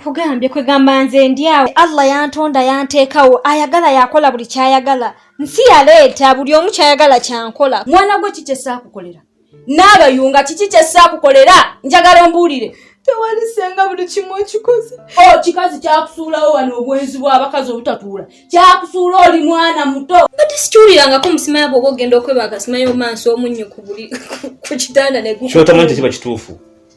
nkugambye kwegamba nze ndyawo allah yantonda yanteekawo ayagala yakola buli kyayagala nsi yaleeta buli omu kyayagala kyankola mwana gwe kikyesaakukolera n'abayunga kiki kyesaakukolera njagala ombuulire tewalisenga buli kimu okikoze o oh, kikazi kyakusuulawo wano obwenzi bw'abakazi obutatuula kyakusuula oli mwana muto bati sikiwulirangako omusima yabo oba ogenda okweba akasima yomansi omunnyo ku buli ku kitanda neguotamanyi tekiba kituufu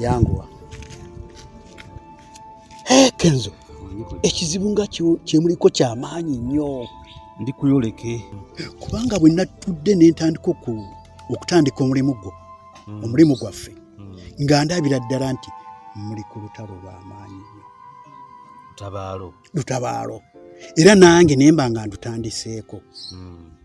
yanguwa kenzo ekizibu nga kyemuliko kyamaanyi nnyo ndi kuyoleke kubanga bwe natudde nentandika okutandika omulimu gwo hmm. omulimu gwaffe hmm. nga ndabira ddala nti muli ku lutalo lwamaanyi nnyo lutabaalo lutabaalo era nange nemba nga ndutandiseeko hmm.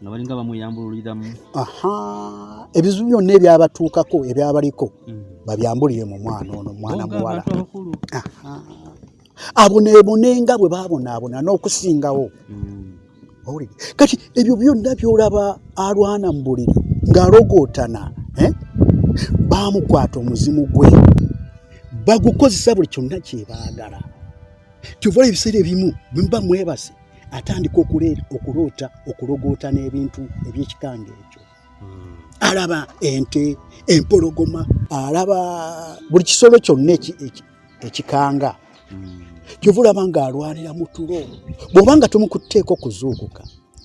nga balinga bamuyambululiramu aha ebizibu byonna ebyabatuukako ebyabaliko mm. babyambulire mu mwana ono mwana muwala aboneebonenga bwe babonaabona n'okusingawo mm. owulire kati ebyo byonna byolaba alwana mu buliri ng'alogootana eh? baamukwata omuzimu gwe bagukozesa buli kyonna kyebaagala kyovaola ebiseera ebimu bwemuba mwebase atandika okuloota okulogoota n'ebintu ebyekikanga ekyo hmm. alaba ente empologoma alaba buli kisolo kyonna ekikanga hmm. kyova olaba nga alwanira mu tulo bw'oba nga tomukutteeko okuzuukuka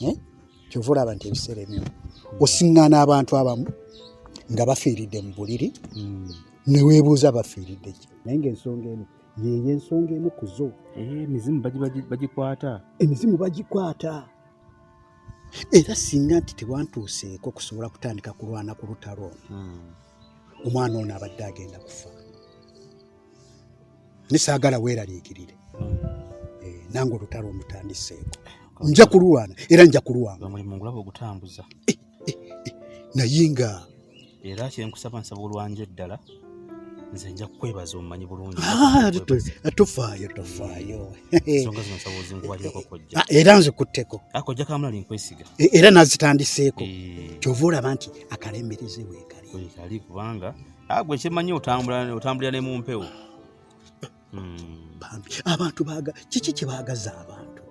eh? kyova olaba nti ebiseera ebimu osiŋŋaana abantu abamu nga bafiiridde mu buliri hmm. neweebuuza bafiiridde ki naye ngaensonga eno yeyo ensonga emu ku zo eh, emizimu bagikwata emizimu bagikwata era singa nti tewantuuseeko kusobola kutandika kulwana ku lutalo hmm. omwana ono abadde agenda kufa nesaagala weeraliikirire hmm. eh, nange olutalo olutandiseeko nja kululwana era nja kulwana omulimu ngulaba ogutambuza eh, eh, eh, naye nga era kyenkusaba nsaba olwanja eddala nze nja kukwebaza omumanyi bulungi ah, tofaayo tofaayo ensonga zino nsaba ozinkuwalirako kojja ah, era nze kutteko ah, kojja kamulali nkwesiga e, era nazitandiseeko eh. kyova olaba nti akalembereze weekali kubanga agwe kyemanyi otambulira ne mu mpewo hmm. bambi abantu baga kiki kyebagaza abantu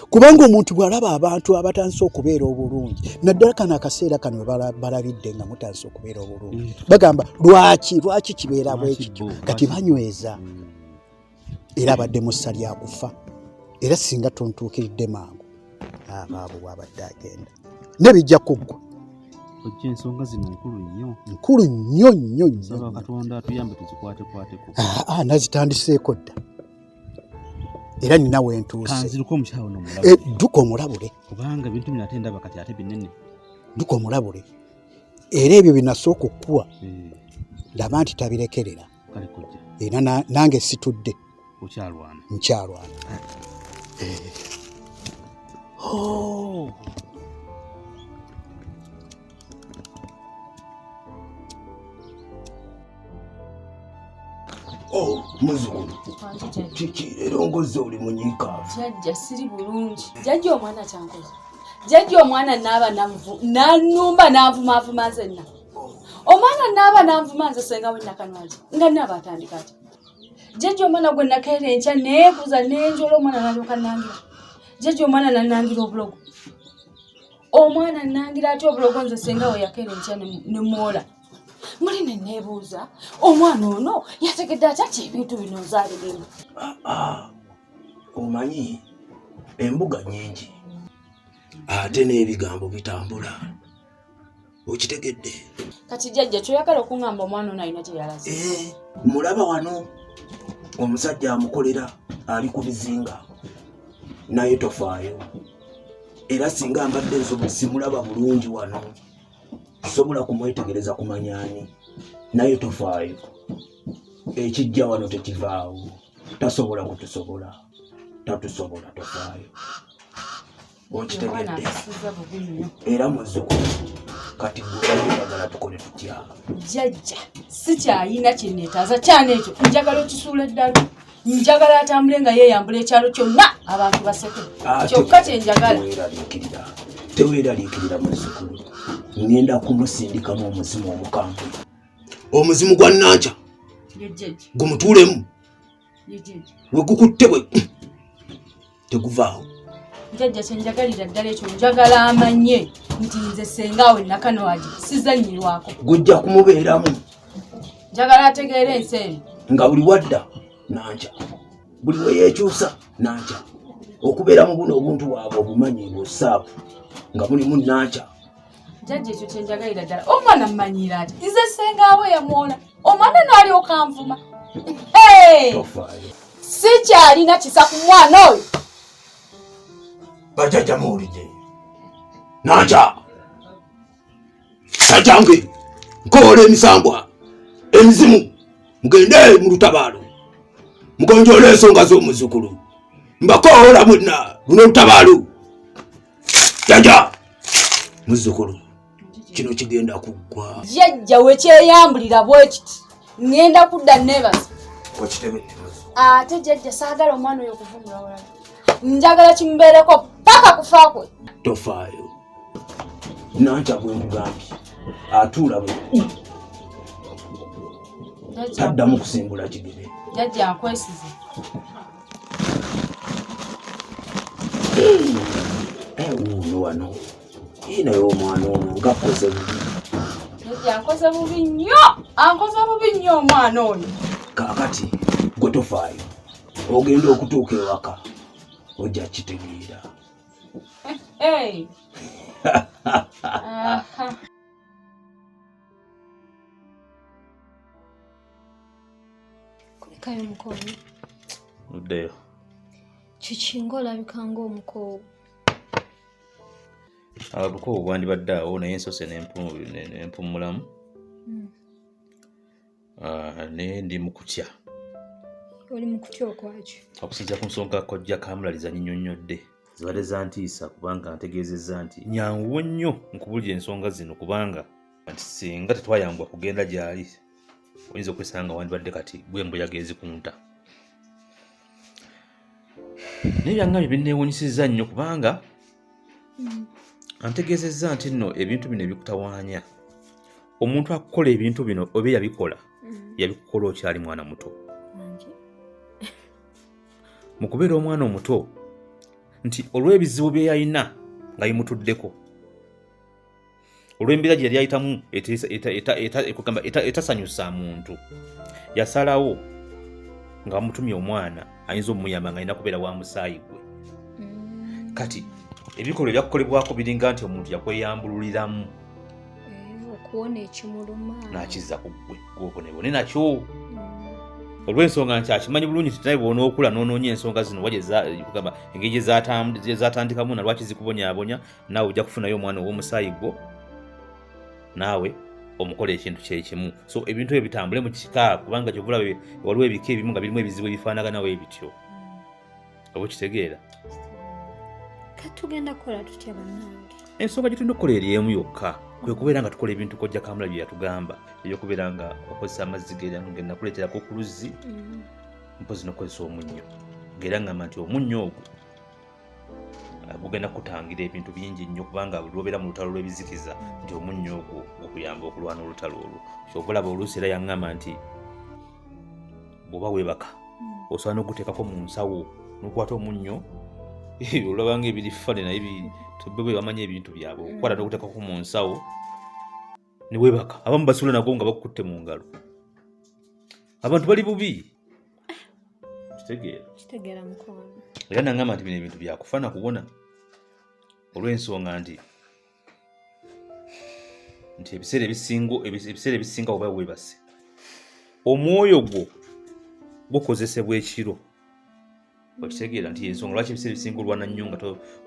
kubanga omuntu bwalaba abantu abatandise okubeera obulungi naddala kano akaseera kano balabidde nga mutandise okubeera obulungi hmm. bagamba lwaki lwaki kibeera bwekityo kati banyweza hmm. era abadde mussa lyakufa era singa tontuukiridde mangu abaabu bwabadde agenda nebijja kuggwa ojja ensonga zino nkulu nnyo nkulu nnyo nnyo nsaba katonda atuyambe tuzikwatekwateko ah, ah, nazitandiseeko dda era nina wentuusekanziruka omukyalo nomulabe eh, dduka omulabule kubanga bintu bino ate ndaba kati ate binene dduka omulabule era ebyo binasooka okukuwa hmm. laba nti tabirekerera kale kojja era nange situdde okyalwana nkyalwana eh. oh. Oh, muzukulu kiki era ongoze oli munyiikaavu jajja siri bulungi jajja omwana kyankoze jajja omwana naaba nanumba nanvumaavuma nzenna omwana naaba nanvuma nze senga wenakanwali nga naaba atandika ti jeje omwana gwe nakeera enkya neebuza nenjola omwana nalyoka nangira jeje omwana nanangira obulogo omwana nangira ati obulogo nze senga we yakeera enkya nemwola muli ne neebuuza omwana ono yategedde akyaki ebintu bino nzaaliremu ah, ah. omanyi embuga nyingi ate n'ebigambo bitambula okitegedde kati jajja kyoyagala okuŋamba omwana ono alina gyeyalaze eh, mulaba wano omusajja amukolera ali ku bizinga naye tofaayo era singa mbadde nsobo simulaba bulungi wano sobola kumwetegereza kumanyani naye tofaayo ekijja wano tekivaawo tasobola kutusobola tatusobola tofaayo okitegedde era muzukulu kati gweagala tukole tutya jajja sikyayina kyenetaza kyana ekyo njagala okisuula eddala njagala atambule nga yeyambula ekyalo kyonna abantu baseke ah, kyokka kyenjagala teweraliikirira muzukulu ngenda kumusindikamu omuzimu omukambwe omuzimu gwa nanca gumutuulemu wegukutte we teguvaawo jajja kyenjagalira ddala ekyo njagala amanye nti nze sengaawe nakanwagi sizanyirwako gujja kumubeeramu njagala ategeera ensi eno nga buli wadda nankya buli weyekyusa nankya okubeera mu buno obuntu waabwe obumanyi busaabu nga mulimu nankya jajja ekyo kyenjagalira ddala omwana mmanyiira ati nze sengaawe yamwona omwana naalyoka nvuma sikyalina kisa ku mwana oyo bajajja muwulidde naja najange nkoola emisambwa emizimu mugende mu lutabaalo mugonjoola ensonga z'omuzukulu mbakoola mwenna luno olutabaalo jaja muzzukulu kino kigenda kuggwa jajja wekyeyambulira bwekiti ŋŋenda kudda nebaza ate jajja saagala omwana oyo okuvumula walala njagala kimubeereko paka kufa kwe tofaayo nantya bwemugambye atuula bwe taddamu kusimbula kigere jajja nkwesize wuuno wano naye omwana ono ngakoze bubi ankoze bubi nnyo ankoze bubi nnyo omwana oyo kakati gwe tofaayo ogenda okutuuka ewaka ojja kitegeera kulekayo omukono uddeyo kiki ngaolabika ngaomukoowu abukoowu bwandibadde awo naye ensose nempumulamu hmm. ah, naye ndi mukutya oli mukutya okwaki okusinzira ku nsonga kojja kamulaliza nyinyonyodde zibadde zantiisa kubanga ntegeezezza nti nyanguwo nnyo nkubulira ensonga zino kubanga nti singa tetwayambwa kugenda gyali oyinza okwesanga nga wandibadde kati gwe embuyaga ezikunta naye byangambye binneewunyisizza nnyo kubanga hmm. antegeezezza nti nno ebintu bino ebikutawaanya omuntu akukola ebintu bino oba yabikola hmm. yabikukola okyali mwana muto mu kubeera omwana omuto nti olw'ebizibu bye yalina nga bimutuddeko olw'embeera gye yali ayitamu etasanyusa muntu yasalawo nga bamutumye omwana ayinza omuyamba nga alina kubeera wa musaayi gwe mm. kati ebikolwa ebyakukolebwako biringa nti omuntu yakweyambululiramu nakiza ku ggwe gwobonebone nakyo mm. olw'ensonga nti akimanyi bulungi nti naye bwonaokula noonoonya ensonga zino wa kugamba engeri gyezatandikamu na lwaki zikubonyabonya naawe ojja kufunayo omwana ow'omusaayi gwo naawe omukola ekintu kyekimu so ebintu ebyo bitambule mu kika kubanga kyovula waliwo ebika ebimu nga birimu ebizibu ebifaanaganawo ebityo oba okitegeera katugenda kukola tutya bannange ensonga gyetulina okukola eri emu yokka kwe kubeera nga tukola ebintu kojja kamula bye yatugamba ebyokubeera nga okozesa amazzi genakuleeterako ku luzzi mm. mpozi nokukozesa omunnyo ngaera ngamba nti omunnyo ogwo eh, gugenda kutangira ebintu bingi nnyo kubanga lwobeera mu lutalo lw'ebizikiza nti omunnyo ogwo okuyamba okulwana olutalo olwo kyova olaba oluusi era yaŋŋamba nti bw'oba weebaka hmm. osobola n'okuteekako mu nsawo n'okwata omunnyo ebyo olabanga ebiri fane naye bebamanya ebintu byabwe okukwata mm. nokutekako mu nsawo ne weebaka abamu basula nago nga bakukutte mu ngalo abantu bali bubi kitegeera kitegeera mukwano era nangamba nti bino ebintu byakufa na kubona olw'ensonga nti nti ebiseera ebisinga ebiseera ebisinga oba weebase omwoyo gwo gukozesebwa ekiro okitegeera nti ensonga lwaki ebiseera ebisinga olwana nnyo nga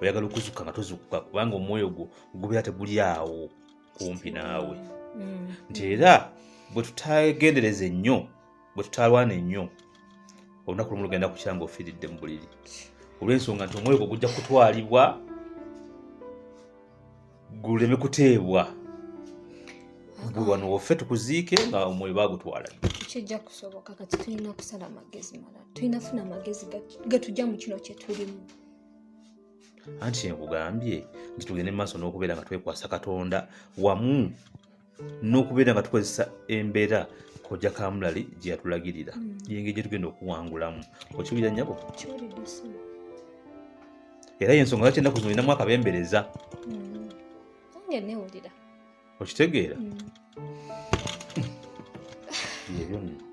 oyagala okuzuka nga tozukuka kubanga omwoyo gwo gubeera teguli awo kumpi naawe mm. nti era bwe tutagendereze nnyo bwe tutalwana ennyo olunaku lumu lugenda kukya nga ofiiridde mu buliri olw'ensonga nti omwoyo gwo gujja kutwalibwa guleme kuteebwa gwe wano woffe tukuziike nga omwoyo bagutwala kijja kusoboka kati tulina okusala amagezi malala tulina funa amagezi gatujja mu kino kyetulimu anti nkugambye nti tugende mu maaso n'okubeera nga twekwasa katonda wamu n'okubeera nga tukozesa embeera kojja kamulali gye yatulagirira mm. yengeri gye tugenda okuwangulamu okiwulira nyabo era yensonga lwaki ennaku zino olinamu akabembereza mm. okitegeera mm. yebyonna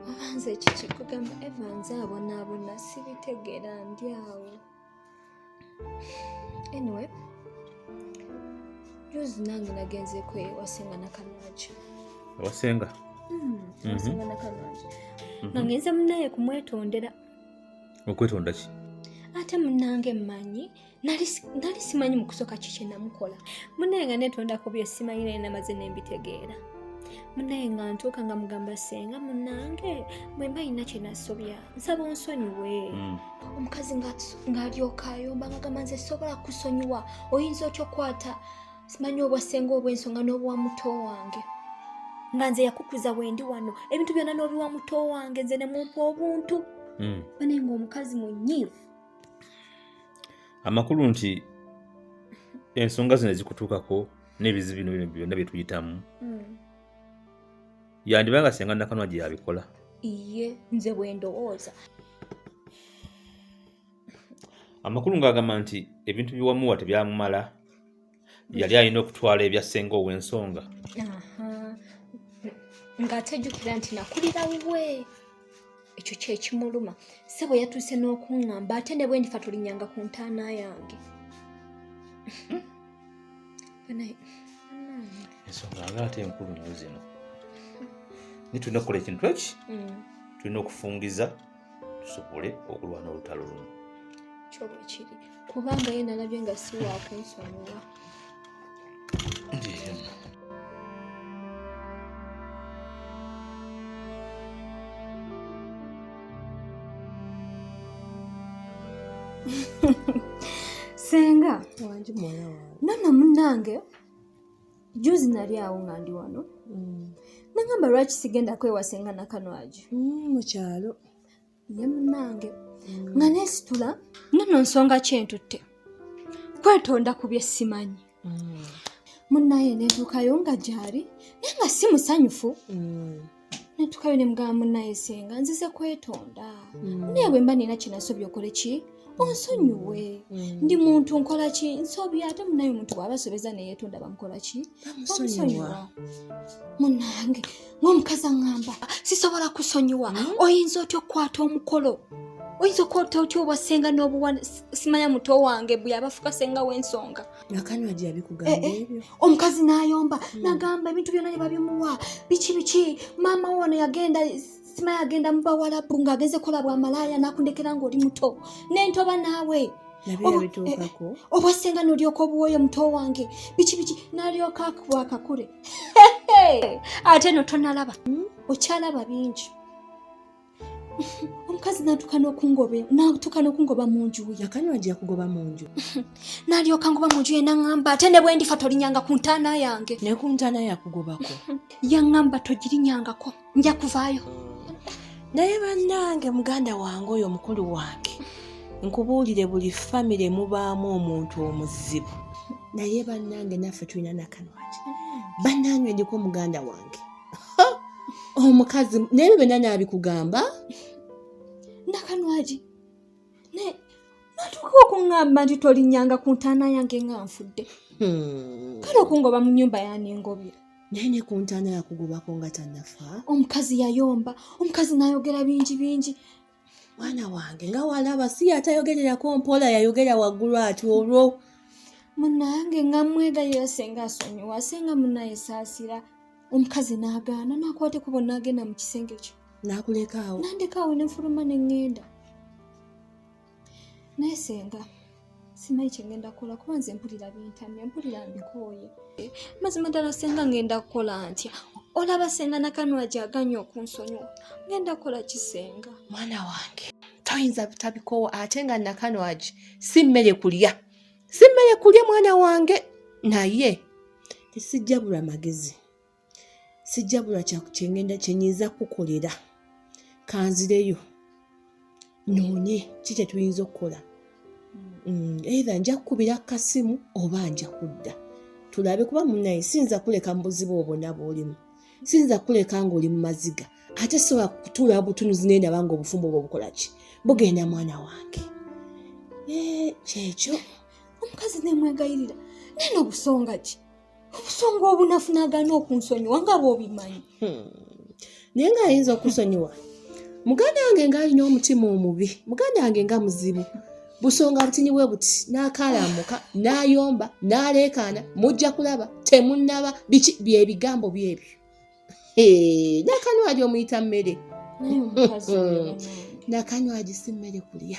obanza ekikikugamba evanze abonaabona sibitegeera ndi awo anyway juzi nange nagenzeeko ewasenga nakanwagi ewasenga hmm, mhm. wasenga nakanwagi mhm. nga ngenze munaye kumwetondera okwetonda ki ate munange mmanyi nali simanyi mukusooka kiki namukola munaye nga netondako bye simanyi naye namaze nembitegeera munaye nga ntuuka nga mugamba senga munange mwemba yina kyenasobya nsaba onsonyiwe hmm. omukazi ng'alyoka ayomba nga gamba nze sobola kusonyiwa oyinza otya okukwata simanyi obwasenga obw'ensonga n'obwa muto wange nga nze yakukuza wendi wano ebintu byonna n'obiwa muto wange nze ne mumpa obuntu hmm. bane ng'omukazi munyiivu amakulu nti ensonga zino ezikutuukako n'ebizibu bino bino byonna bye tuyitamu hmm. yandiba nga senga nakanwa gye yabikola iye nze bwe ndowooza amakulu ng'agamba nti ebintu biwamuwa tebyamumala yali alina okutwala ebya senga ow'ensonga ng'atajjukira nti nakulira wuwe ekyo kyekimuluma sebo yatuuse n'okuŋŋamba ate ne bwendifa tulinyanga ku ntaana yange ensonga nga ate enkulu nnyo zino ni tulina okukola ekintu eki mm. tulina okufungiza tusobole okulwana olutalo luno kyoba kiri kubanga ye nalabye nga siwakunsonyiwa senga nana munange juzi nali awo nga ndi wano mm. nangamba lwaki sigenda kwewasenga nakanwagi mm, mukyalo ye munange nga nesitula nono nsonga kyentutte kwetonda ku bye simanyi mm. munaye netuukayo nga gyali naye nga si musanyufu mm. netuukayo ne mugamba munaye senga nzize kwetonda mm. naye bwemba nina kyenasobya okole ki onsonyiwe ndi muntu nkola ki nsobya ate munaye omuntu bwaba asobeza neyetonda bamukola ki bamusonyiwa munange ngaomukazi aŋamba sisobola kusonyiwa hmm? oyinza otya okukwata omukolo oyinza okukwata otya obwasenga nobuwa simanya muto wange bweyabafuka senga wensonga eh, eh. omukazi nayomba hmm. nagamba ebintu byona nebabimuwa biki biki maama wona yagenda simayi agenda mu bawalabu ng'agenze kola bwa malaaya n'akundekera ng'oli muto nentoba naawe obwasenga nolyoka obuwoyo muto wange biki biki nalyoka akuwa akakule ate no tonalaba hmm? okyalaba bingi omukazi natuka nokungoba natuka nokungoba munju yakanywaja kugoba munju nalyoka ngoba munju yena ngamba ate ne bwendifa tolinyanga ku ntaana yange ne ku ntaana yakugobako yangamba togirinyangako nja kuvaayo naye bannange muganda wange oyo mukulu wange nkubuulire buli famire mubaamu omuntu omuzibu naye bannange naffe tulina nakanwaki bannange ndiko muganda wange omukazi naye byo byonna naabikugamba nakanwagi naye natuuka okuŋŋamba nti tolinyanga ku ntaana yange nga nfudde hmm. kale okungoba mu nnyumba yaningobye naye ne ku ntaana yakugobako nga tanafa omukazi yayomba omukazi nayogera bingi bingi mwana wange nga walaba si yatayogererako mpola yayogera waggulu ati olwo munange nga mwegayira senga asonyiwa senga munaye saasira omukazi n'agaana n'akwata ekubo n'agenda mu kisenge kyo n'akulekaawo nandekaawo ne nfuluma ne ŋŋenda naye senga simanyi kyengenda kukola kuba nze mpulira bintamye mpulira mbikooye mazima ddala senga ngenda kukola ntya olaba senga nakanula gyaganye okunsonyiwa ngenda kukola kisenga mwana wange toyinza butabikoowa ate nga nakanwagi si mmere kulya si mmere kulya mwana wange naye tesijjabulwa magezi sijjabula kyengenda kyenyinza kukukolera kanzireyo noonye ki kyetuyinza okukola mm, eitha nja kukubira kukasimu oba nja kudda tulabe kuba munaye siyinza kuleka mu buzibu obwo naba olimu siyinza kuleka ngaoli mu maziga ate sobola kutuula butunuzi naye ndaba nga obufumbo obwo obukola ki bugenda mwana wange eh, kyekyo omukazi nemwegayirira naye nobusonga ki obusonga obunafu nagaana okunsonyiwa nga bwobimanyi hmm. naye nga ayinza okusonyiwa muganda wange ngaalina omutima omubi muganda wange nga muzibu busonga butini bwe buti n'akaalamuka n'ayomba n'aleekaana mujja kulaba temunnaba biki byebigambo byebyo nakanwagi omuyita mmere nakanwagi si mmere kulya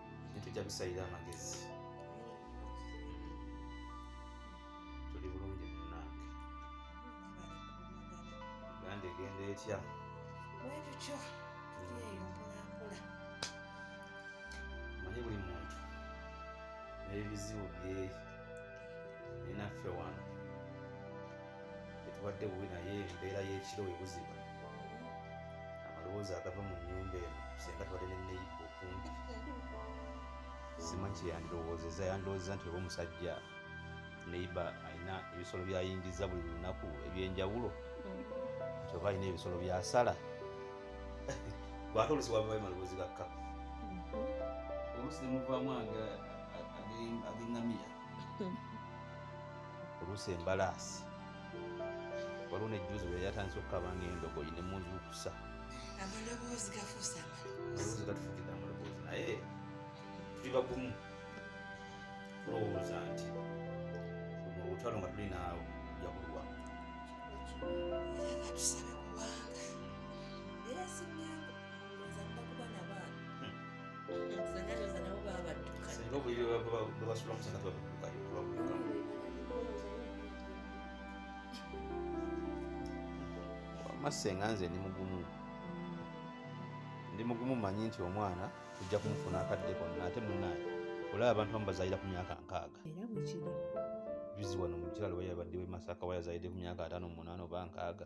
tujja kusalira amagezi tuli bulungi munange uganda egenda etya wetutyo tuyeyo mpolampola manyi buli muntu n'ebizibu bye ninaffe wano etubadde bubi naye embeera y'ekiro we buziba amalowooza agava mu nnyumba eno senga tubadde ne neyiba okumpi simanyi kyeyandirowoozeza yandirowoozeza nti oba omusajja neiba alina ebisolo byayingiza buli lunaku ebyenjawulo nti oba alina ebisolo byasala gwate olusi wavayo maloboozi gakka olusi nemuvaamu agengamiya oluusi embalaasi waliwo nejjuuzi bwe yatandise okukaba ng'endogoyi ne muzuukusa amaloboozi gafuusa amaloboozi gatufukidde amaloboozi naye tuli bagumu tulowooza nti mu lutalo nga tuli naawo ojja kulwa era katusabe kubanga era simyangu oza kuba kuba nabaana singa obuliri bwebasula musana tebabukayokulabuka masenga nze ndi mugumu ndi mugumu manyi nti omwana tujja kumufuna akadde konna ate munaye olaba abantu bamu bazalira ku myaka nkaaga juzi wano mukiralo wayabadde wemasaka wayazalidde ku myaka ataano munaana oba nkaaga